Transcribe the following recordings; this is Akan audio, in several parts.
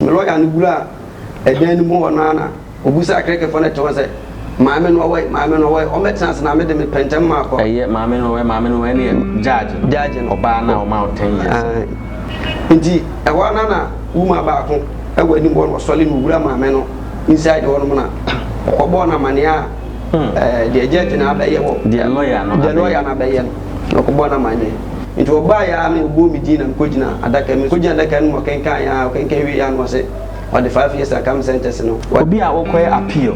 Me lɔya no wuraa ɛdan no mu hɔ no ara na obisaa Krekefoɔ no te hɔ sɛ, Maame no ɔwɔ he? Maame no ɔwɔ he? Ɔmmɛtena ase na me de me pɛntɛm ma akɔ. Ɛyɛ maame no ɔwɔ he? Maame no ɔwɔ he no yɛ judge no. Judge no. Ɔbaa no a ɔmaa wo ten years no. Aane. Nti ɛhɔ ara no ara na woman baako wɔ anim hɔ na ɔsɔre na owura maame no inside hɔ nom na ɔkɔbɔɔ no amaneɛ a deɛ judge no abɛyɛ wɔ. Deɛ lɔya no abɛyɛ. Deɛ lɔya no abɛyɛ no. Na ɔkɔbɔɔ no amanneɛ. Enti wɔbaeɛ ara na wɔbuu me din na mekɔgyina adaka mu. Mekɔgyina adaka no mu, ɔkenkanee ara, ɔkenkan wieeɛ ara na ɔse ɔde five years account sentence no. Obi a wokɔyɛ appeal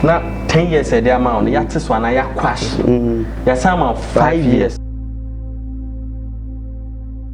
na ten years a yɛde ama wo no yɛate so anaa yɛaquash, yɛasan ama wo five years.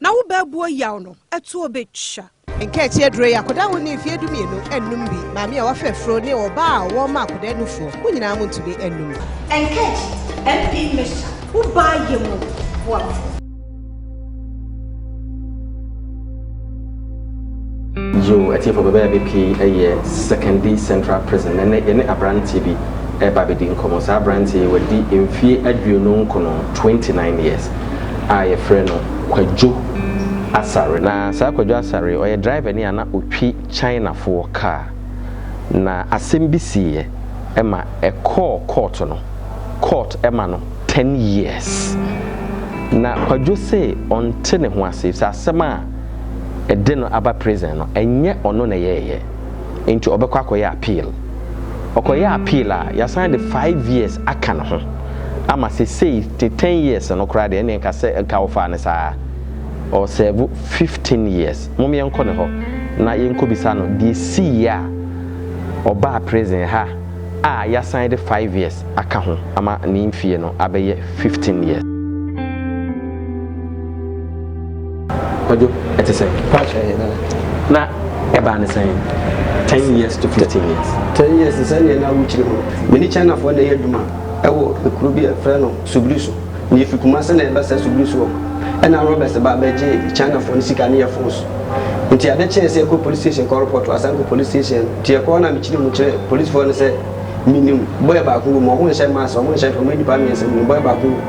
Na wo bɛɛboɔ yaw no ɛtoɔ bɛtwa. Nkaakyi aduro yi, akwadaa a wɔnnii mfeɛ dumienu nnom bi. Maame a wafa afuro ne ɔbaa a wɔrema akwadaa nufoɔ, mo nyinaa montumi nnom. Nkaakyi MP mixture, wo baa yɛ mu boafoɔ. Yiw, atiefo bɛbɛyɛ ade pii yɛ Sekondi Central Prison. Ɛnnɛ, yɛne aberante bi reba abedi nkɔmmɔ. Saa aberante yi, wadi mfe aduonu nkron, twenty nine years, a yɛfrɛ no Kwadwo Asare. Na saa Kwadwo Asare yi, ɔyɛ drivani a na otwi Chinafoɔ kaa, na asɛm bi siiɛ ma ɛkɔɔ kɔɔto no. Kɔɔt ma no ten years. Na Kwadwo se ɔnte ne ho ase, efisɛ asɛm a. de no aba prison no ɛnyɛ ɔno na ɛyɛɛyɛ nti ɔbɛkɔ akɔyɛ appeal ɔkɔyɛ appeal a yasan de five years aka ne ho ama sesei te ten years no koraa deɛ ɛne nka sɛ nka wɔfaa no saa ɔsɛɛvo fifteen years mom yɛnkɔ ne hɔ na yɛnkɔ bisa no deɛ sii a ɔbaa prison ha a yasan de five years aka ho ama ne mfie no abɛyɛ fifteen years. Kwadwo, ɛte sɛ. Pass ɛyɛ na. Na ɛbaa ne sɛn? Ten years to fifteen years. Ten years te sɛ nea na awo kyiri mu. Me ne Chinafoɔ na ɛyɛ adwuma ɛwɔ ekuro bi a yɛfrɛ no Subiri so. Na yɛfi Kumasi na yɛba saa Subiri so hɔ no, ɛna robbers ba bɛgye Chinafoɔ no sika ne yɛn phones. Nti ade kyee sɛ yɛkɔ police station kɔ report wɔ Asanko police station no. Nti yɛkɔ hɔ na mekyerɛ mu kyerɛ policefoɔ no sɛ menim boy baako wɔ mu, wɔnhyɛ mask, wɔnhyɛ hwee, wɔyɛ nnipa mmiɛnsa wɔ mu, boy baako wɔ mu.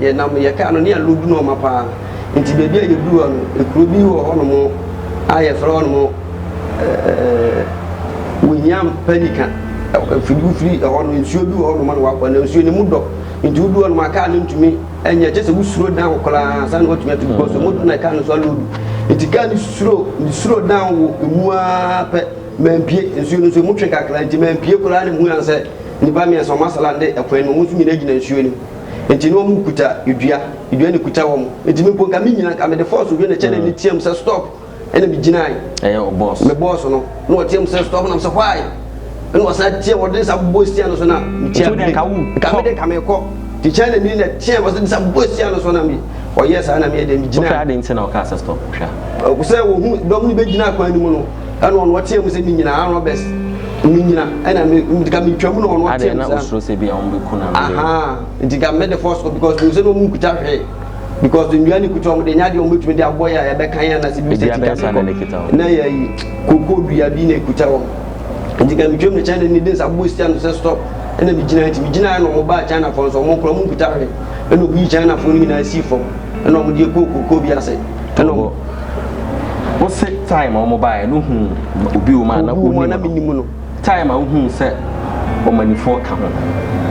Yɛnam yɛn kaa no ne ɛno du nɔɔma paa nti baabi a yɛduru hɔ no ekuro bi wɔ hɔnom a yɛfrɛ hɔnom ɛɛ Wuhiam Pelican ɛfiri bi firi ɛhɔ no nsuo bi wɔ hɔnom na wabɔ na nsuo no mu dɔ nti woduru hɔnom a kaa no ntumi ɛnyɛ kyɛ sɛ wosuro dan wo koraa ansa na watumi atu because ɔmo dɔ na kaa no nso aloodu nti kaa no suro suro dan wo emu ara pɛ mampie nsuo no nso emu twe kakra nti mampie koraa na mu hu yan sɛ nnipa mmiɛnsa ɔmo asalande ɛkwan no ɔmo nso nyinaa gyina nsuo no mu. Enti na wɔn kuta dua, dua na kuta wɔn. Enti me mpo nka me nyina nka me de force hwɛ na kyɛ na hmm. me team sɛ stop. Ɛna me gyinae. Ɛyɛ o boss. Me boss no. Na ɔteam sɛ stop na me sɛ why? Ɛna ɔsan team ɔde ne sa bɔ sia no so na me tia. Nti wode nka wo. Nka me de nka me kɔ. Ti kyɛn na mi na team ɔsɛ de sa bɔ sia no so na me ɔyɛ saa na me yɛ de me gyinae. Wofɛ ade nti na ɔka sɛ stop hwɛ. Ɔkusɛ wɔhu dɔm no bɛgyina akwan no mu no. Ɛna ɔno ɔteɛ mu sɛ me nyina Aaron Roberts me nyina ɛna me nti ka me twa mu na ɔno ɔteɛ mu sɛ. Adeɛ na osoro sɛ bi a wɔn bɛ ku na. Aha nti ka me de force kɔ because mi sɛ na wɔn kuta hwee because nnua ne kuta wɔn de nya deɛ wɔn bɛtumi de abɔ yɛ a yɛbɛka yɛn anase bi sɛ tika mi kɔ na yɛ yi koko dua bi na ekuta wɔn nti ka me twa mu na kyɛn na ne de nsa bɔ si ano sɛ stop ɛna me gyina nti me gyina yɛ na wɔn baa China fo nso wɔn kura wɔn kuta hwee ɛna wɔn yi China fo no nyinaa si fam ɛna wɔn de kɔ koko bi ase. Ɛnna ɔwɔ wose time a wɔbaeɛ no hu obi wɔ mu a na Obi wɔ mu a na wonim menim no no. time a wohuu sɛ ɔmanifoɔ ka ho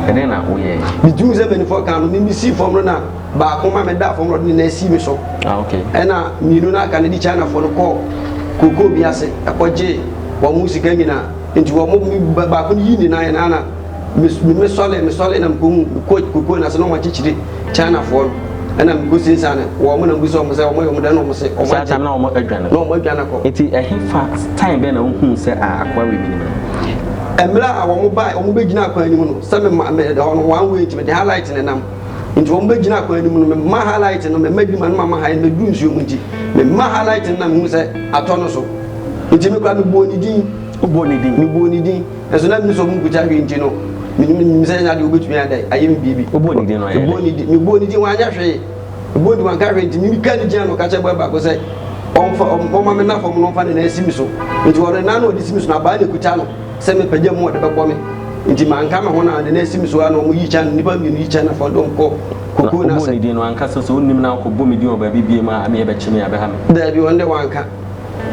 ɛdɛn na woyɛɛ Metuu sɛ mpanimfoɔ ka no, me mesii fam no na baako ma medaa fam na ɔde ne nan sii me so. ah ok Ɛnna mmienu no a aka no de Chinafoɔ no kɔɔ kookoo bi ase kɔgyee wɔn sika nyinaa. Enti wɔn me ba- baako no yii ne nan na me me mesɔlee mesɔlee na mekɔhuu mekɔɔ kookoo no ase na wɔakyekyere China foɔ no ɛna mekɔ si nsa no wɔ ɔmo na mbu sɛ ɔmo sɛ ɔmo yɛ ɔmo dɛ na ɔmo se ɔmo agye na ɔmo adwane na ɔmo adwane akɔ. Nti ɛhe fa time bɛn na wohuu sɛ a akoa wei menim no. Ɛmmerɛ a ɔmo bae ɔmo bɛ gyina akwan anim no sɛ me ma me hɔ no one way nti me de ha light ne nam nti ɔmo bɛ gyina akwan anim no me ma ha light no me ma di ma no ma ma ha me duru nsuo mu nti me ma ha light no na me hu sɛ atɔ no so nti me kora me buo ne din. Wo buo ne din? Me buo ne din. Nanso na minni sɛ ɔmo nkogya hwee nti no, minim minim sɛ ɛnyɛ ade a wobetumi ayɛ dɛ ayɛ me biribi. Wobɔɔ ne din no, ɔyɛɛ dɛn? Mebɔɔ ne din, mebɔɔ ne din, wanyɛ hwee. Mebɔɔ ne din, wanka hwee, nti mimi kaa ne gyina ano ka kyerɛɛ boy baako sɛ ɔmfa, ɔm, ɔmma me nna fam na ɔmfa ne nan nsi me so. Nti ɔno, ne nan na ɔde si me so, na abaa na ekuta no sɛ mepagya mu a ɔde bɛbɔ me. Nti manka me ho na ɔde ne nan si me so ara na ɔmo yi kyɛ ano, nnipa mmienu yi kyɛ ano afɔre de ɔmo kɔ Na kokoo no wobɔɔ ase. ne din no, wanka sɛ, sɛ onnim na akɔbɔ me din wɔ baabi bio mu a, ɛmeɛ bɛkye me, ɛbɛha me. Daabi, ɔno deɛ wanka.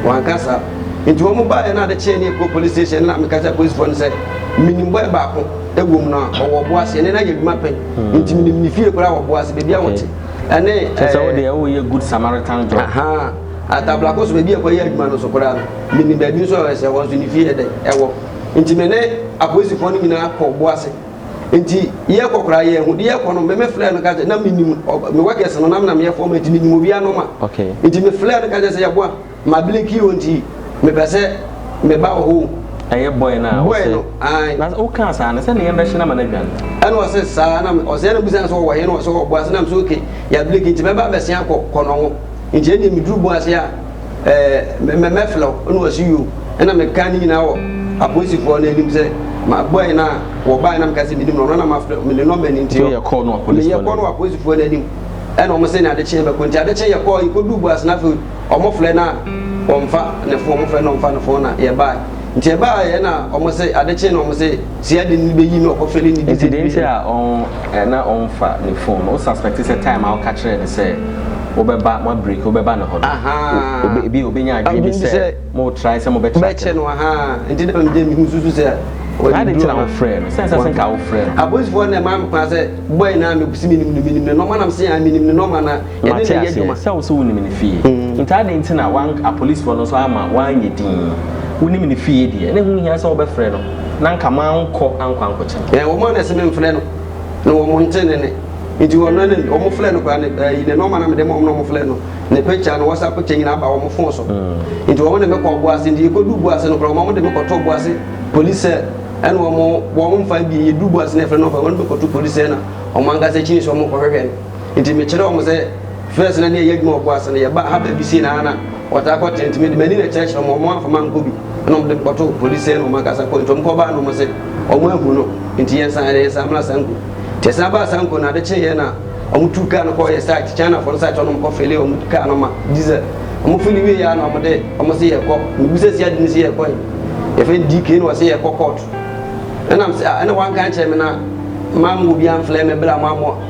Wɔanka saa. Enti wɔn baeɛ na ade kyeeɛ ne yɛkɔɔ police station no na meka kyerɛɛ polisifoɔ no sɛ menim boy baako wɔ mu na ɔwɔ Ɔboase ɛne no ayɛ adwuma pɛn nti menim ne fie koraa wɔ Ɔboase baabi a wɔte ɛne Kyɛ sɛ wo deɛ woyɛ good Samaritan job. Ahaa Atablako so baabi a ɛkɔyɛ adwuma no nso koraa no menim baabi nso a ɛwɔ sɛ ɛhɔ nso ne fie yɛ dɛn ɛwɔ nti me ne apolisifoɔ no nyinaa kɔɔ Ɔboase. nti yɛ kɔ kora yɛ ho de yɛ kɔ no mɛmɛ filɛ no kakyɛ na menim me workers no nam na meyɛ fɔm nti menim obi anoma nti me filɛ no kakyɛ sɛ yɛ boa ma bile ki o nti mepɛ sɛ meba wɔ ho ɛyɛ boy na boy no ayi na o kan saa na sɛ ne yɛn bɛhyɛ na ma na dwan ɛna ɔsɛ saa na ɔsɛ na busan sɛ ɔwɔ he na ɔsɛ ɔwɔ boa sɛ nam sɛ okay yɛ bile ki nti mɛba bɛsɛn akɔ kɔ no ho nti ɛne meduru boa sɛ a ɛɛ mɛ mɛ mɛfrɛ wo ɛna wɔsi yo ɛna meka ne nyinaa wɔ apolisifoɔ no anim sɛ ma bɔɛ no a wɔbaeɛ na meka sɛ menim no ɔno na mafrɛ me ne nɔmba no nti yɛkɔ no wɔ apolisifoɔ no anim ɛna wɔn sɛ ne adekye yɛbɛkɔ nti adekye yɛkɔ yɛkɔduu boase no afei wɔn frɛ no a wɔmfa ne fon wɔn frɛ no wɔmfa ne fon na yɛbaeɛ Nti ɛbaa yɛ na ɔmo se ade kye na ɔmo se sia de no beyi na ɔkɔ fɛ ne ne di. Nti den nti a ɔn ɛ na ɔn fa ne phone no wo suspect sɛ time a wo ka kyerɛ ne sɛ wo bɛ ba mo break wo bɛ ba ne hɔ no ahaa ebi a obe nya adwene bi sɛ mo try sɛ mo bɛ track no no ahaa nti na me gye me ho susu sɛ ɔde duro na ade nti na wo frɛ no sɛ sɛ sɛ nka wo frɛ no apolisifoɔ na ɛmaa me kwan sɛ boy na me se me nim no me nim ne nɔma na me se aa me nim ne nɔma na. Mate aseɛ sɛ wo se wonim ne fie, nti adɛn nti na wank apolisifoɔ no nso amma wanyɛ dinn? Wonim ne fie deɛ, na ɛho nhia sɛ wobɛfrɛ no, na anka mankɔ ankɔ ankɔkyɛ no. Ɛɛ wɔn a na ɛse memfrɛ no, na wɔn nte ne nne, nti wɔn na ne wɔn frɛ no koraa ne ɛyi ne nɔma na mede ma wɔn na wɔn frɛ no, ne picture, ne WhatsApp picture nyinaa ba wɔn phone so, nti wɔn de me kɔɔ Boase, nti yɛkɔduu Boase no koraa wɔn de me kɔtoo Boase police cell, ɛna wɔn wɔn mfa abie, yɛduu Boase no yɛfrɛ nɔma, wɔn de me kɔto police cell na wɔn ankasa kyini so wɔn kɔhwehwɛ no. Enti mekyerɛɛ wɔn sɛ first na ne yɛyɛ adwuma wɔ Boa ase no, yɛba ha baabi sei na ha na wɔtaa kɔ tent, enti mede m'ani na ɛkyerɛkyerɛɛ wɔn, wɔn amfa mankɔ bi, ɛna wɔde me kɔtoo police sɛɛ na wɔn ankasa kɔe, enti wɔn kɔ baa no wɔn se wɔn ahu no, enti yɛnsan, ɛnna yɛsan mmra Sanku. Enti yɛsan baa Sanku no, ade kyeeɛ na wɔn tuu car no kɔɔ yɛn site, Chinafoɔ no site hɔ na wɔn kɔ fillee wɔn car no ma diesel, wɔn fillee wieeɛ ara na wɔn de wɔn se yɛrekɔ, mebisa si ade no se yɛrekɔ he? Yɛfrɛ no DK na ɔse yɛrekɔ court, ɛna mese ah, ɛna wɔanka ankyerɛ me na mammɔ obiara amflare me bere a moammɔ.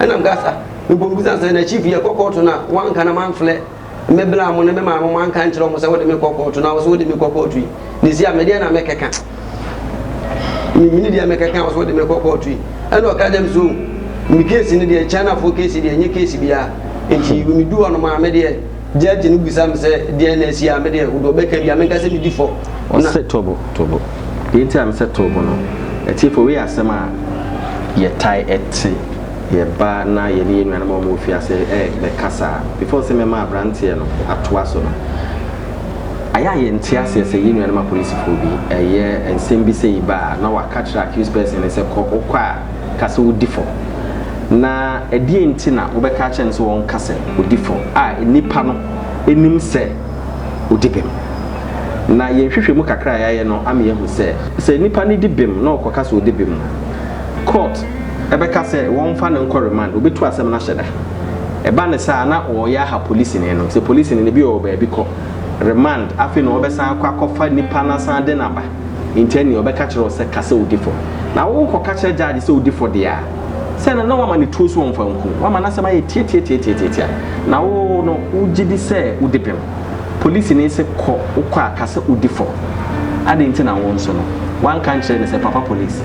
Ɛna mekasa mebɔ mu bisa sɛ na chief yɛ kɔ kɔɔto no a wanka na manflɛ me bla mo ne me maame mo anka nkyerɛ ɔmo sɛ wode me kɔ kɔɔto na wose wode me kɔ kɔɔto yi ne si a medeɛ na mɛkɛka me mini deɛ mɛkɛka wose wode me kɔ kɔɔto yi ɛna ɔka gyam so me case ne deɛ China foɔ case deɛ nye case biara nti medu hɔ no maa medeɛ Gyɛɛgye no bisa me sɛ deɛn na asi a me deɛ wode ɔbɛka bi a menka sɛ medi fɔ. Ɔse to bo, to bo. Deɛ nti a mesɛ to bo no, atiefo wei yɛ asɛm a yɛtae te yɛ ba na yɛne yɛ nuanom a wɔwɔ fie ase bɛkasa a before sɛ mɛma abranteɛ no atoa so no ayɛ a yɛnte aseɛ sɛ yɛ nuanom apolisifoɔ bi ɛyɛ nsɛm bi sɛ yi ba a na waka kyerɛ accused person no sɛ kɔ, wokɔ a. ka sɛ odi fɔ. Na ɛdeɛn nti na wobɛka akyerɛ no sɛ ɔnka sɛ ɔdi fɔ a nnipa no nim sɛ ɔdi bem? Na yɛn nhwehwɛmu kakra a yɛayɛ no ama yɛahu sɛ, sɛ nnipa no di bem na ɔkɔka sɛ ɔdi bem a, kɔɔt bɛka sɛ wɔmfa no nkɔ remand, wɔbɛtu asɛm no ahyɛ da. Ɛba no saa a, na wɔreyɛ aha polisini no. Sɛ polisini no, ebi ɔwɔ baabi kɔ remand, afei na ɔbɛsan akɔ akɔfa nipa no asan de no aba. Enti ɛnneɛ ɔbɛka kyerɛ wo sɛ ka sɛ wodi fɔ. Na wo kɔka kyerɛ judge sɛ wodi fɔ deɛ a, sɛ no na wama no tuo so ɔmfa nku wo. Wama n'asɛm ayɛ tiatiatiatiatia. Na wo no wogye di sɛ wodi bem. Polisini se kɔ, wokɔ a ka sɛ wodi fɔ. Adɛn nti na wo nso no woanka ankyerɛ no sɛ papa police,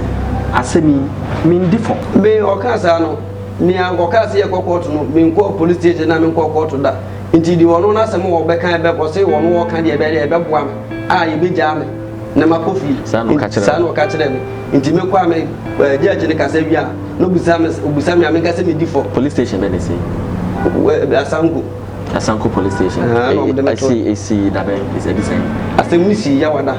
asɛm yi mendi fɔ. Me ɔkaa saa no, nea anka ɔkaa sɛ yɛnkɔ kɔɔto no, menkɔɔ police station na menkɔɔ kɔɔto da. Enti deɛ ɔno n'asɛm a ɔbɛka ɛbɛ, ɔse ɔno ɔɔka deɛ ɛbɛyɛ dɛ ɛbɛboa me. a yebegyaa me na makɔ fie. Saa na ɔka kyerɛɛ me. Saa na ɔka kyerɛɛ me. Nti mekɔ a me eh, judge no kasa wie a, na obisa me obisa me a menka sɛ medi fɔ. Police station bɛn na esi? Eh, Asanko. Asanko police station. Ah, na wɔde me to. Esi esi da bɛn? Edi sɛn? Asɛm no sii Yawada.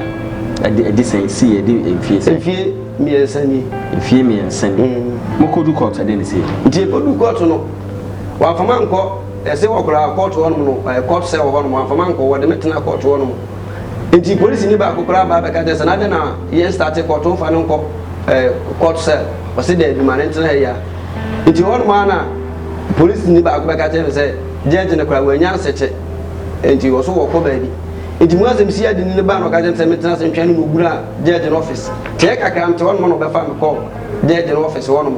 Edi edi sɛn? Sii edi mfie sɛn? Mfie mmiɛnsa ni. Mfie mmiɛnsa ni. Mm. Mokodu court ɛdɛn na esi? Nti ekodu court no, wɔamfa mankɔ. Ɛse wɔ koraa kɔɔto hɔnom no ɛɛ kɔɔto sɛ wɔ hɔnom wamfa mankɔ wɔde me tena kɔɔto hɔnom nti polisini baako koraa baa bɛka kyerɛ sɛ na adɛn na yɛn starte kɔɔto mfa no nkɔ ɛɛ kɔɔto sɛ ɔse daabi ma ne ntena ha yi a nti hɔnom ara na polisini baako bɛka kyerɛ me sɛ gyɛɛgye no koraa wannya nsɛkyɛ nti wɔ so wɔkɔ baabi nti mu asɛm sii adeni no baa na ɔka kyerɛ me sɛ mentena ase ntwɛn no na ɔwura gyɛɛgye no ɔfese kyɛɛ kakra mete hɔnom na ɔbɛfa me kɔɔ gyɛɛgye no ɔfese hɔnom.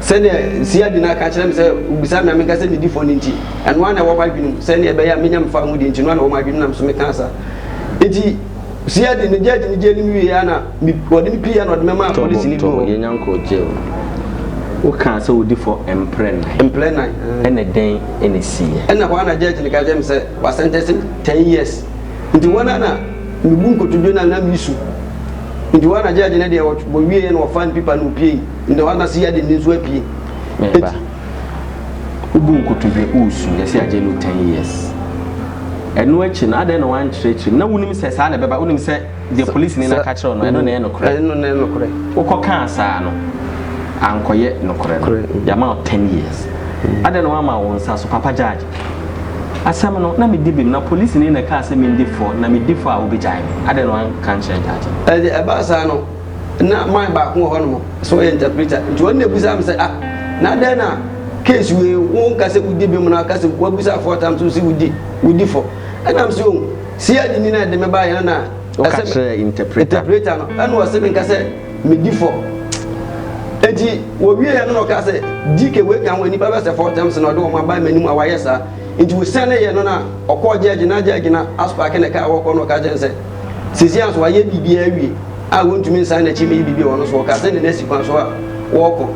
Sɛnea Nsia Gyina ka kyerɛ me sɛ wobisa me a menka sɛ medi fɔ no nti, ɛno ara na ɛwɔ m'adwenem. Sɛnea ɛbɛyɛ a menya me fã ho deɛ nti, ɛno ara na ɛwɔ m'adwenem na me nso meka saa. Enti Nsia de, megyaa gyinigye anim wieeɛ ara na me, wɔde me piiɛ ara na wɔde me maa polisini bi wɔ hɔ. Yɛnnya nkɔɔ jail. Wokaa sɛ wodi fɔ mprɛ nnan. Mprɛ nnan, ɛɛ. Ɛnna dɛn na ɛsiiɛ? Ɛnna hɔ ara na judge no ka kyerɛɛ me sɛ wasɛntɛnse me ten years. Nti wɔn a na mebu nkotodwe no a na mesu. Nti wɔn a na gyɛɛgye no deɛ wɔbɔ wieɛ na wɔfa mpipa na wɔpie yi, nti wɔn a na si yɛ de ne nso apie. Meba. Wobu nkotodwe wosu yɛsi agye no ten years. Ɛno akyi no adɛn na wɔankyerɛkyerɛ mu? Na wonim sɛ saa na ɛbɛba? Wonim sɛ deɛ polisini no aka kyerɛ wo no ɛno na ɛyɛ nokorɛ? Ɛno na ɛyɛ nokorɛ. Wokɔkaa saa no ankɔyɛ nokorɛ no. Nokorɛ. Yɛama wo ten years. Adɛn na woamma wo nsa so papa gyɛɛgye? Asɛm no, na medi bem, na polisini na ɛkaa sɛ mindi fɔ, na midi fɔ a wobegyae me. Adɛn na wanka ankyerɛ Judge no? Ɛnde ɛbaa saa no, na man baako wɔ hɔnom sɛ ɔyɛ interpreter, nti ɔno na ebisaa me sɛ, Ah, na adɛn na case wei wonka sɛ wudi bem na woka sɛ woabisa four times wose wudi, wudi fɔ? Ɛnna mese, Oh, CID ni na ɛde me baeɛ no na ɛsɛ me. Woka kyerɛɛ interpreter no? Interpreter no, ɛnna ɔse menka sɛ. Medi fɔ. Enti wɔwieeɛ no na ɔkaa sɛ, Gye ke wei ka ho, nnipa bɛsɛ four terms na ɔde wɔn aba m'anim a wayɛ saa. Enti wɔsianeeɛ no na ɔkɔɔ gyɛɛgye no a gyɛɛgye no aspaake ne kaa a wɔrekɔ na ɔka kyerɛɛ no sɛ, Seesei ara nso wayɛ biribiara awie a wɔntumi nsan n'akyi mmɛyi biribi wɔ no so. Ɔkaa sɛ ne nan si kwan so a wɔrekɔ,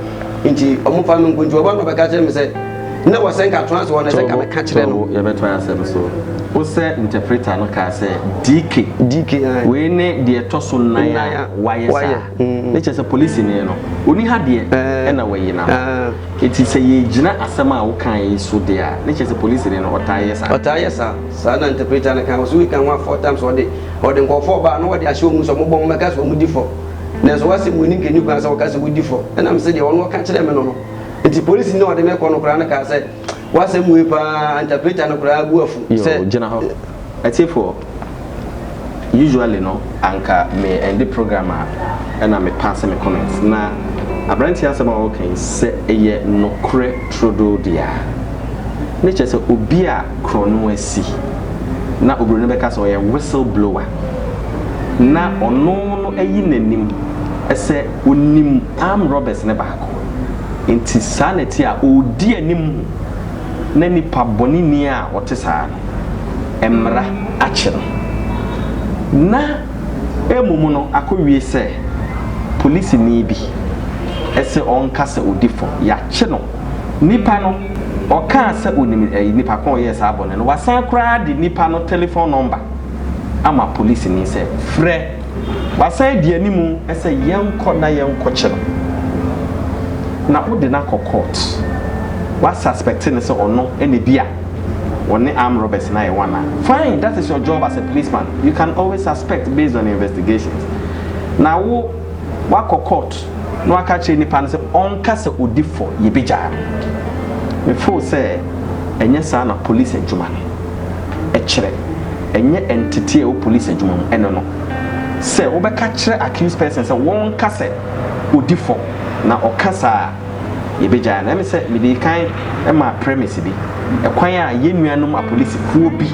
enti wɔmfa me nkɔ. Enti wɔba na wɔbɛka kyerɛɛ me sɛ. Na wɔ sɛ nka toa so hɔ no sɛ nka meka kyerɛ no. Yɛbɛtoa asɛm so. Wo sɛ interpreter no kaa sɛ DK. DK ayi. Wei ne deɛ ɛtɔ so nan a wayɛ saa. Mm. Ne kyerɛ sɛ polisini no ɔni ha deɛ eh. ɛna wayi na. Eh. Eti sɛ yɛgyina asɛm a woka yi so deɛ a ne kyerɛ sɛ polisini no ɔtaa yɛ saa. Ɔtaa yɛ saa. Saa na interpreter no kan wɔ so wika ho a four times ɔde ɔde nkɔfoɔ ɔbaa na ɔde ahyɛ wɔn sɛ wɔn bɔ wɔn bɛka sɛ wɔn di fam. Nanso wɔasɛm wɔn ani nka ni kwan sɛ wɔka sɛ wɔdi fam. Ɛnam sɛ deɛ ɔno ɔka kyerɛ me no no. Eti polisini a ɔde me kɔ no koraa no kaa sɛ, W'asɛm wei paa, interpreter no koraa bu afu sɛ. Yoo, gyina hɔ. Atiefoɔ, usually no, anka me ɛnde program a ɛna me paase me comment. Na aberanteɛ asɛm a ɔreka yi, sɛ ɛyɛ nokorɛ trodoo deɛ a, ne kyerɛ sɛ obi a korɔno asi, na oburoni bɛka sɛ ɔyɛ whistle blower, na ɔno no ayi n'anim sɛ ɔnim armed robbers no baako. Enti saa na ɛte a ɔredi anim na nipa bɔneni a ɔte saa no, mmara akye no. Na mmom no akɔwie sɛ polisini bi se ɔnka sɛ ɔdi fɔ, yɛakye no. Nipa no, ɔkaa sɛ ɔnim nipa ko a ɔyɛɛ saa bɔne no, wasan koraa de nipa no telefon nɔmba ama polisini sɛ frɛ. Wasan adi anim sɛ yɛnkɔ na yɛnkɔkyɛ no na wode no akɔ court. Wa suspect no sɛ ɔno na bi a ɔne armed robbers no ayɛ one a, fine that is your job as a policeman you can always suspect based on investigations. Na wo wakɔ court na waka akyerɛ nipa no sɛ ɔnka sɛ ɔdi fɔ, yɛbɛgyaa no. Me feel sɛ ɛnyɛ saa na police adwuma no. kyerɛ, ɛnyɛ entity a ɛwɔ police adwuma mu, ɛne no. Sɛ wobɛka kyerɛ accused person sɛ wɔnka sɛ odi fɔ na ɔka saa a, yɛbɛgyae no. Ɛme sɛ mede kan maa premise bi, ɛkwan a yɛn nuanom apolisikuo bi,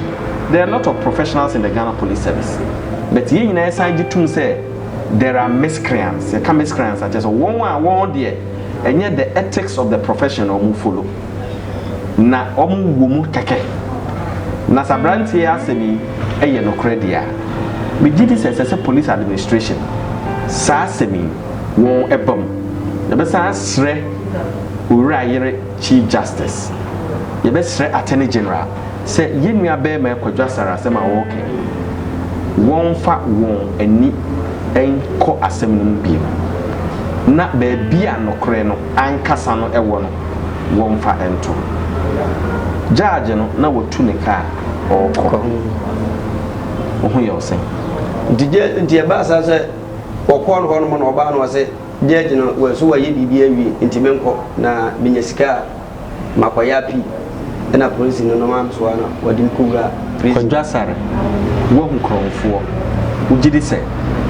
there are a lot of professionals in the Ghana Police Service, but yɛn nyinaa yɛsan gye tom sɛ there are miscreants, yɛka miscreants a kyerɛ sɛ wɔn a wɔn deɛ ɛnyɛ the ethics of the profession na wɔn follow. na wɔn wɔ mu kɛkɛ. Na sɛ abranteɛ yi asɛm yi yɛ nokorɛ deɛ a, me gye di sɛ ɛsɛ sɛ police administration saa asɛm yi wɔn ba mu. Yɛbɛ san asrɛ Owura Ayere Chief Justice, yɛbɛ srɛ Attorney General sɛ yɛn nua bɛɛma Kwadwo Asare asɛm a ɔɔkɛ yi wɔn fa wɔn ani nkɔ asɛm no mu bio na baabi a nokorɛ no ankasa no wɔ no wɔmfa nto. Gyagye no na watu ne ka a ɔrekɔ. Wo ho yɛ wo sɛn? Nti gya nti ɛbaa saa sɛ wɔkɔɔ no hɔnom na ɔbaa no ɔse gyagye no wɔ so wayɛ biribi awie nti menkɔ na menya sika a makɔyɛ apii. na apolisi no nom antoa na wɔde no kɔwura prison. Kwadwo Asare, Woahu korɔmfoɔ, wogye di sɛ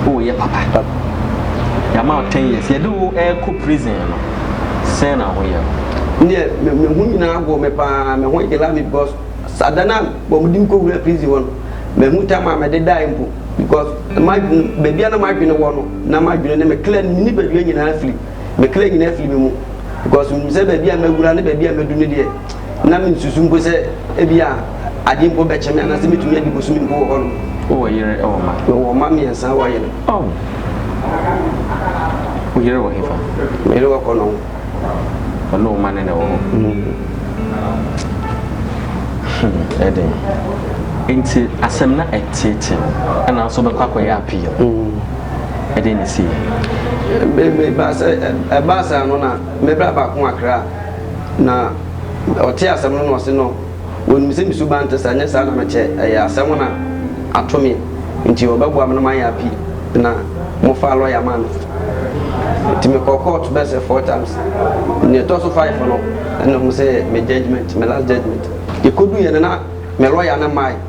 woreyɛ papa? Yɛama wo ten years, yɛde wo rekɔ prison no, sɛn na wo ho yɛ wo? Me deɛ, me me ho nyinaa agorɔ me pa ara, me ho yela me because sa da no a wɔde me kɔwuraa prison hɔ no, manhu time a mede daeɛ mpo because m'adwene, baabi a na m'adwene wɔ no, na m'adwene ne me kra ne me nipadua nyinaa firi me kra nyinaa firi me mu because menim sɛ baabi a mawura ne baabi a madu no deɛ na mensusu mpo sɛ ebi a adeɛ mpo bɛkyɛ me anaasɛ mɛtumi adi bosome mpo wɔ hɔ no. wowɔ yere wɔ ma? mewɔ mma mmiɛnsa wɔ yere. Oh. wo yere wɔ hefa? me yere wɔ kɔnɔ ho. ɔne wo ma ne na ɛwɔ hɔ? Mm. Hmm, ɛden nti asɛm na ɛteetee mu ɛna nso bɛkɔ akɔyɛ appeal mm. ɛdɛn na esii? Bere bi baa sɛ ɛbaa saa no na me bra baako akra a na ɔte asɛm no na ɔse no wɔnim sɛ me suban nte saa nyɛ saa na mekyɛ ɛyɛ asɛm na ato me nti ɔbɛboa me na mayɛ appeal na mo faa lɔya maa me nti me kɔɔ court bɛyɛ sɛ four times nea ɛtɔ so five no ɛna ɔmo sɛ me judgement me last judgement yɛkɔduiɛ no na me lɔya no mmae.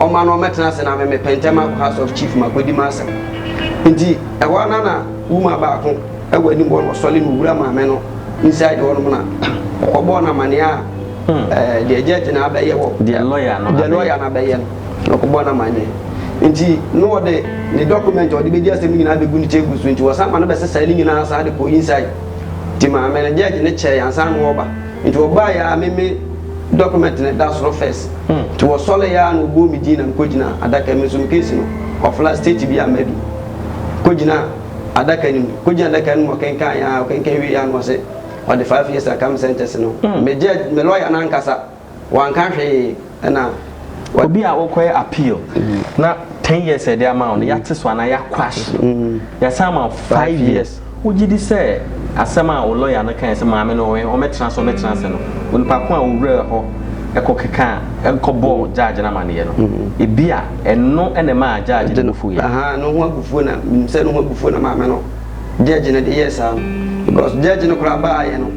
ɔma no ɔmmɛtena ase na me mepɛ ntɛm akɔ House of Chief makɔdi m'asɛm. Nti ɛhɔ ara na woman baako wɔ anim hɔ no ɔsɔre na ɔwura maame no inside hɔ nom na ɔkɔbɔɔ no amanneɛ a ɛɛ deɛ judge no abɛyɛ wɔ Deɛ lawyer no deɛ abɛyɛ. lawyer no abɛyɛ no na ɔkɔbɔɔ no amanneɛ. Nti na ɔde ne document a ɔde bɛdi asɛm no nyinaa bɛgu ne table so nti wɔsan ma no bɛsesae ne nyinaa san de kɔɔ inside. Nti maame no judge no kyɛɛe ansa na ɔreba nti ɔbaeɛ ara me me Document no da soro first nti wɔsɔre yɛ a na ɔbɔ me din na mekɔ gyina adaka mu nso me case no ɔfla state bi a madu kɔ gyina adaka no mu kɔ gyina adaka no mu ɔkenkan yɛ a ɔkenkan wie yɛ a na ɔse ɔde five years aka me sentence no me judge me lawyer no ankasa wanka hwee ɛna obi a wokɔyɛ appeal mm. na ten years ɛde ama wo no yɛate so anaa yɛakwash mm. yɛsan ama five years wogye di sɛ asɛm a wo lɔya no kae sɛ maame no ɔmɛtena so ɔmɛtena se no onipa ko a wowura hɔ ɛkɔ keka ɛkɔbɔ mm. gyaagye no amanneɛ no ebi a ɛno ɛna ɛma gyaagye no fufuo yɛ no ho abufuo na menim sɛ no ho abufuo na maame no gyagye no de yɛ saa no because gyagye no koraa baayɛ no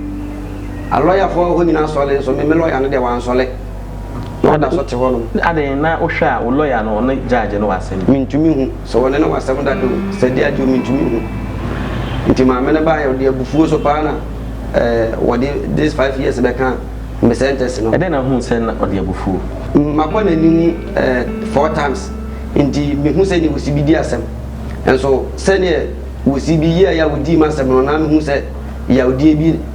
alɔyafoɔ hɔ nyinaa sɔle nso meme lɔya no deɛ wansɔle Na ɔda so te hɔnom. Adɛn, na wohwɛ a, wo lɔya no, ɔne gyaagy no wɔ asɛm bi? Mintumi nhu sɛ wɔne no wɔ asɛm da bio, Sadiya Adjoo, mintumi nhu. Nti maame no baeɛ, ɔde abufuo so paa na wɔde this five years bɛkaa me sentence no. Ɛdɛn na wohuu sɛ na ɔde abufuo? Mabɔ n'anim four times, nti mehu sɛdeɛ wɔsi bi di asɛm. Nso sɛdeɛ wɔsi bi yɛeɛ a wɔdii m'asɛm no, na mehu sɛ yawdeɛ bi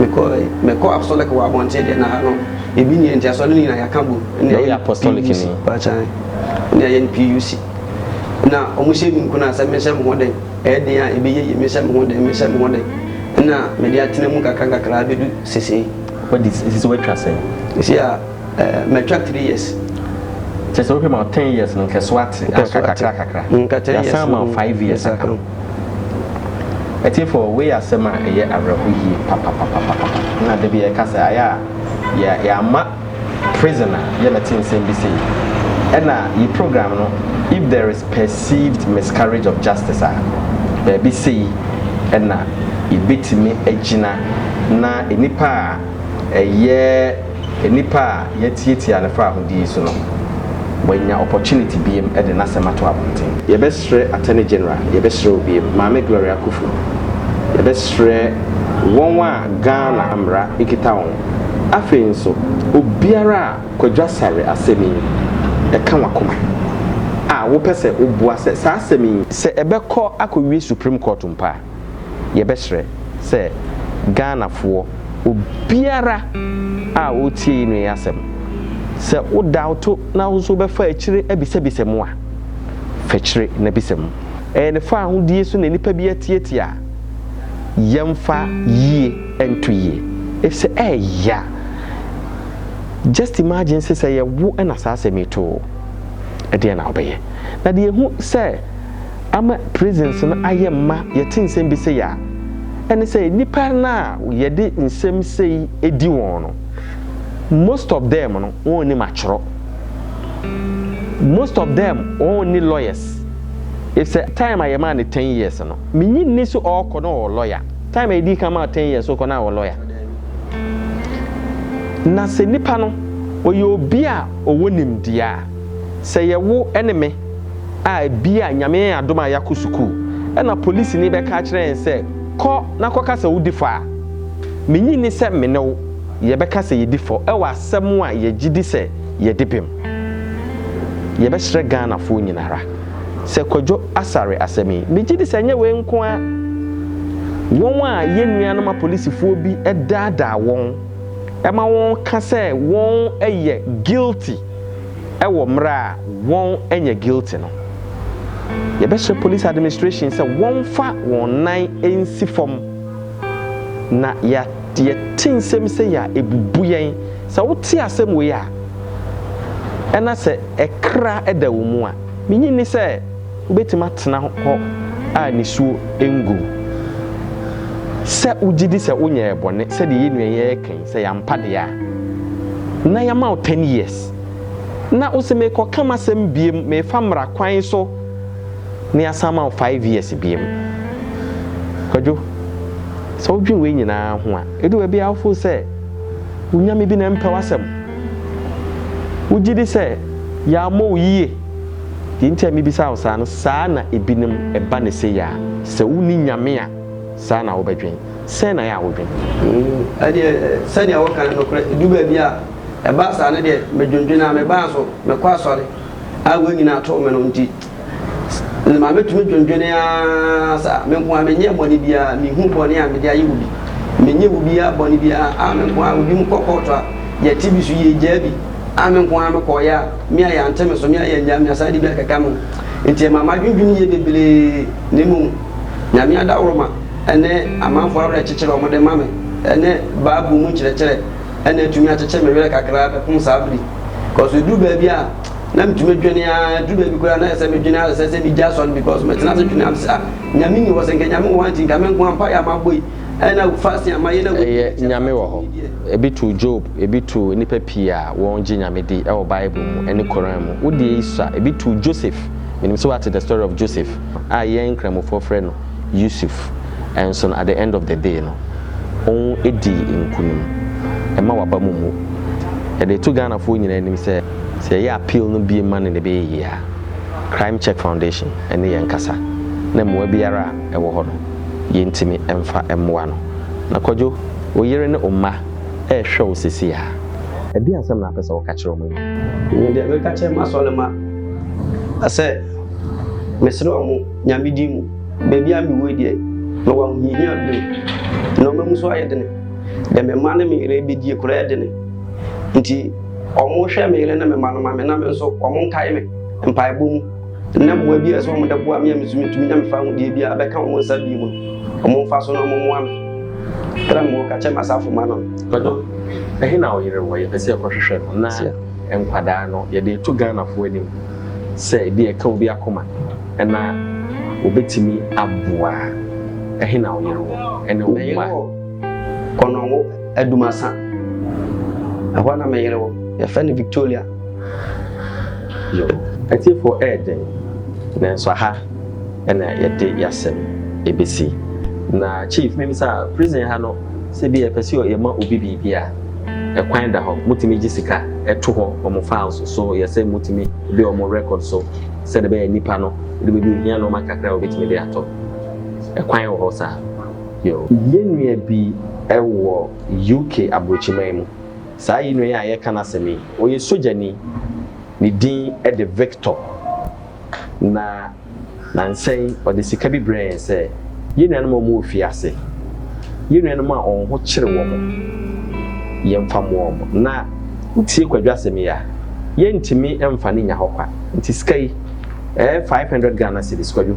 Mekɔe, mekɔ apostolic wɔ abɔnten deɛ na ha no ebi nni nti asɔre no nyinaa yɛaka bom ne ayɛ no PUC paakyan ne ayɛ no PUC na wɔn hyɛ mi nkuna sɛ mehyɛ me ho den ɛyɛ den a ɛbɛyɛ yie mehyɛ me ho den mehyɛ me ho den na mede atena mu kakra kakra abɛdu sesei. Wadi sisi watwa sɛn? Sisi a Eh matwa three years. Kyerɛ sɛ wohwɛ ma ten years no nkɛso ate anka kakra kakra. Nka ten years. Yɛasan ma five years aka. Atiefo wei yɛ asɛm a ɛyɛ awerɛho yie papapapapa. Na da bi yɛka sɛ ayɛ a yɛ yɛama prison a yɛbɛte nsɛm bi sei. Ɛna yi program no if there is perceived miscarriage of justice a baabi sei ɛna yɛbɛtumi agyina na nnipa a ɛyɛ. Nnipa a yɛatiatia no faahodi yi so no, wɔanya opportunity biam de n'asɛm ato abɔnten. Yɛbɛsrɛ Attorney General, yɛbɛsrɛ wo biam, Maame Gloria Kufu, yɛbɛsrɛ wɔn a Ghana mmara kita wɔn, afei nso obiara a Kwadwo Asare asɛm yi ka w'akoma a wopɛ sɛ woboa sɛ saa asɛm yi, sɛ ɛbɛkɔ akɔwie Supreme Court mpo a, yɛbɛsrɛ sɛ Ghanafoɔ, obiara a ɔretie yi nua yi asɛm, sɛ wo daoto na wo nso wobɛfa akyire abisabisa mu a, fa akyire na bisa mu. Ɛyɛ ne faahodie so na nipa bi atiatia a, yɛmfa yie nto yie. Efisɛ ɛyɛ ya. Just imagine se sɛ ɛyɛ wo na saa asɛm yi to wo, ɛdeɛn na wobɛyɛ? Na deɛ ɛhu sɛ. ama prisons no ayɛ mma yɛte nsɛm bi sei a, ɛne sɛ nnipa no a yɛde nsɛm sei di wɔn no, most of them no wɔn nnim atwerɛ. Most of them wɔn nni lawyers. If sɛ time a yɛmaa no ten years no, menyi nni sɛ ɔɔkɔ na ɔwɔ lawyer. Time a yɛdii kan maa ten years ɔkɔ na awɔ lawyer. Na sɛ nnipa no ɔyɛ obi a ɔwɔ nimdeɛ a, Sɛ yɛ wo ne me a bia Nyame yɛn adom a yɛakɔ sukuu na polisini bɛka akyerɛ yɛn sɛ kɔ na kɔka sɛ wodi fɔ a, menye nni sɛ me ne wo yɛbɛka sɛ yɛdi fɔ wɔ asɛm a yɛgyedi sɛ yɛde bem. Yɛbɛsrɛ Ghanafoɔ nyinara sɛ Kwadwo Asare asɛm yi megyedi sɛ nyɛ wei nko ara wɔn a yɛn nuanom apolisifoɔ bi daadaa wɔn ma wɔka sɛ wɔn yɛ guilty, wɔ mmerɛ a wɔn nyɛ guilty no, yɛbɛhyɛ police administration sɛ wɔmfa wɔn nan nsi fam na yɛ yɛte nsɛm sei a ɛbubu yɛn, sɛ wote asɛm wei a ɛna sɛ ɛkra da wo mu a, menyi nni sɛ. Wubetumi atena hɔ a nisuo ngu wo sɛ wogye di sɛ wonyɛɛ bɔne, sɛdeɛ yɛn nua yi ara ka yi, sɛ yɛampa deɛ a na yɛama wo ten years, na wose merekɔka m'asɛm biom, merefa mmara kwan so, na yɛasan ama wo five years biom. Kwadwo, sɛ wodwene wei nyinaa ho a, ɛdu baabi a wo feel sɛ wo Nyame bi na ɛmpɛ w'asɛm. Wogye di sɛ yɛammɔ wo yie. Deɛ nti a mebisa wo saa no, saa na ebinom ba no sei a, sɛ wonni Nyame a, saa na wobɛdwen. Sɛn na yɛ a wodwen? Ɛdeɛ, sɛdeɛ woka no nokorɛ, ɛdu baabi a, ɛba saa no deɛ, medwendwene ara, mebaa nso, mekɔ asɔre a wɔn nyinaa too me no nti, ma metumi dwendwene ara saa, me nkoaa menyɛɛ bɔne biara, menhuu bɔne a mede ayɛ obi, menyɛɛ obiara bɔne biara a me nkoaa, ebinom kɔ kɔɔto a, yɛte bi so, yɛgyaa bi a me nkoaa mekɔeɛ a. me a yɛante me so, me a yɛannyaa me, asan de bi akeka me ho. Enti ɛma m'adwendwene yɛ bebree, na mmom Nyame adaworoma ne amanfoɔ awerɛkyekyerɛ a wɔde ma me ne Bible mu nkyerɛkyerɛ na atumi akyekye me werɛ kakra bɛpom saa bere yi. Because ɛduru baabi a na metumi dwene ara, ɛduru baabi koraa na ayɛ sɛ medwene ara sɛ sɛ megya asɔre because metena ase dwene ara me sɛ ah Nyame nni hɔ, sɛ nka Nyame wɔ hɔ a nti nka me nko ara mpaeɛ a mabɔ yi, Ɛyɛ Nyame wɔ hɔ. Ebi too Job, ebi too nnipa pii a wɔgye Nyame di wɔ Bible mu ne Koran mu. Wo deɛ yi sua. Ebi too Joseph. Menim sɛ woate the story of Joseph a yɛn Nkramofoɔ frɛ no Yusuf. Nso no at the end of the day no, ɔdii nkunim. Ɛma w'aba mu mmu. Yɛde to Ghanafoɔ nyinaa anim sɛ, sɛ yɛyɛ appeal no bio ma no na ɛbɛyɛ yie a, Crime Check Foundation ne yɛn nkasa na mmoa biara a ɛwɔ hɔ no, yɛntumi mfa mmoa no. Na Kwadwo, wo yere ne wo mma rehwɛ wo seesei ara. Ɛdeɛn asɛm na wopɛ sɛ woka kyerɛ wɔn yi? Me deɛ, mɛka kyerɛ m'asɔremma sɛ mesrɛ wɔn Nyame din mu, baabi a mewɔ yi deɛ, mewɔ ahohiahia bio. Nnoɔma mu nso ayɛ dene. Deɛ me mma ne me yere rebɛdie koraa yɛ dene. Nti wɔnhwɛ me yere ne me mma no ma me na me nso wɔnkae me mpaebɔ mu. na mmoa bi a ɛsɛ wɔn de boa me a me nso metumi nya mefa ahodeɛ bi a bɛka wɔn nsa bi mu no wɔn mfa so na wɔn mmoa me tena mu ka kyɛ m'asafo ma no. Bɛdɔ ɛhe na ɔyere wɔ yɛpɛ sɛ ɛkɔhwehwɛ no na nkwadaa no yɛde to Ghanafoɔ anim sɛ ebi ɛka obi akoma ɛna obetumi aboa ɛhe na ɔyere wɔ ɛne wɔn mma. Kɔnɔngo Adumasa ɛhɔ na meyere wɔ yɛfɛ no Victoria. Yoh. Atiefo ɛyɛ den, nanso aha na yɛde yasɛm ɛbɛsi. Na chief mebisa, prison ha no sɛ bi a yɛpɛ sɛ yɛma obi biribi a, ɛkwan da hɔ? Motumi gye sika to hɔ wɔ mo files so yɛ sɛ motumi de wɔ mo record so sɛdeɛ ɛbɛyɛ nnipa no ɛduru baabi a ohia nnoɔma kakra a obɛtumi de atɔ? Ɛkwan wɔ hɔ saa? Yoh. Yɛn nua bi wɔ UK abrokyiman mu. Saa yi nua yi a yɛreka n'asɛm yi, ɔyɛ sogyani. Ne din de Victor, na nnansa yi ɔde sika bi brɛɛ yɛn sɛ yɛn nuanom a wɔwɔ fie ase, yɛn nuanom a wɔn ho kyere wɔn, yɛmfa mmoa wɔn. Na wotie Kwadwo asɛm yi a, yɛrentumi mfa no nnya hɔ kwa. Nti sika yi, ɛyɛ five hundred Ghana cedis, Kwadwo,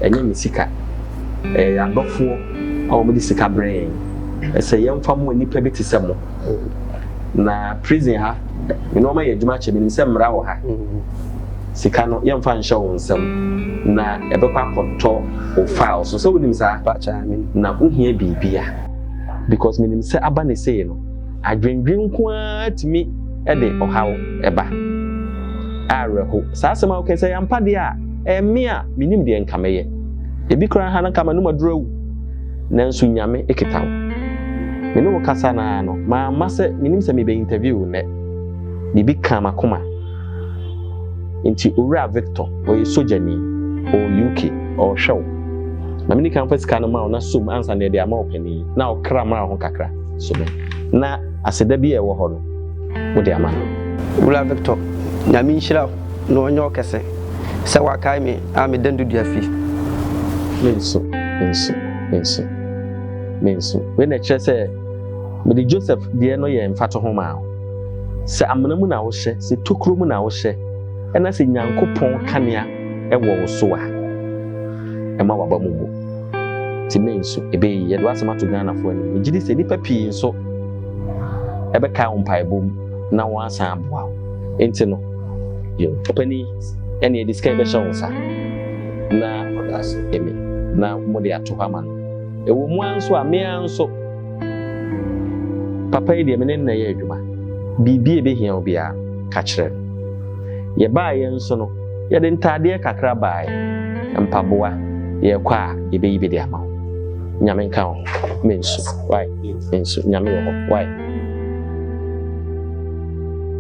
ɛnyɛ me sika, ɛyɛ yɛn adɔfoɔ. na wɔde sika brɛ yɛn ɛsɛ yɛmfa mmoa nipa bi te sɛ mo na prison ha nneɛma yɛ adwuma kyɛ menim sɛ mmara wɔ ha sika no yɛmfa nhyɛ wo nsɛm na ɛbɛkɔ akɔtɔ wo file so sɛ wonim saa na wohia biribi a because menim sɛ aba ne sei no adwendwen nko ara tumi de ɔhaw ɛba awerɛho saa asɛm a wokɛ sɛ yɛampa deɛ a ɛme a menim deɛ nka mɛyɛ Ebi koraa ha no nka m'anom aduru awu, nanso Nyame kita wo. Me ne wo kasa no ara no, mamma sɛ menim sɛ mebɛ interview wo nnɛ. Biribi kaa m'akoma. Nti Owura Victor, ɔyɛ sogyani, ɔwɔ UK, ɔrehwɛ wo. Ma meni kan mfa sika no ma wo na som ansa na yɛde ama ɔpanin na ɔkra mmra ho kakra so me, na aseda bi a ɛwɔ hɔ no, wode ama no. Owura Victor, Nyame nhyira wo na ɔnyɛ wo kɛse sɛ woakae me. A me dan dudua fi. Me nso, me nso, me nso, me nso. Wei na ɛkyerɛ sɛ mede Joseph deɛ no yɛ mfatoho maa wo. Sɛ amena mu na wohyɛ, sɛ tokuro mu na wohyɛ, ɛna sɛ Nyankopɔn kanea ɛwɔ wo so a, ɛma waba mu bu. Nti me nso, ɛbɛyi. Yɛde w'asɛm ato Ghanafoɔ anim. Megye di sɛ nnipa pii nso ɛbɛkae wo mpaebɔ mu na wɔasan aboa wo. Nti no, yo. Ɔpanin. ɛne ɛde sika bɛhyɛ wo nsa na ɛmi na mode ato hɔ ama no ɛwɔ mu ara nso a mea nso papa yi deɛ me ne nna yɛ adwuma biribi a ɛbɛhia wo biara ka kyerɛ no yɛbaeɛ nso no yɛde ntaadeɛ kakra baeɛ mpaboa yɛkɔ a yɛbɛyi bi de ama wo nyame nka ho mensu wae mensu nyame wɔ hɔ wae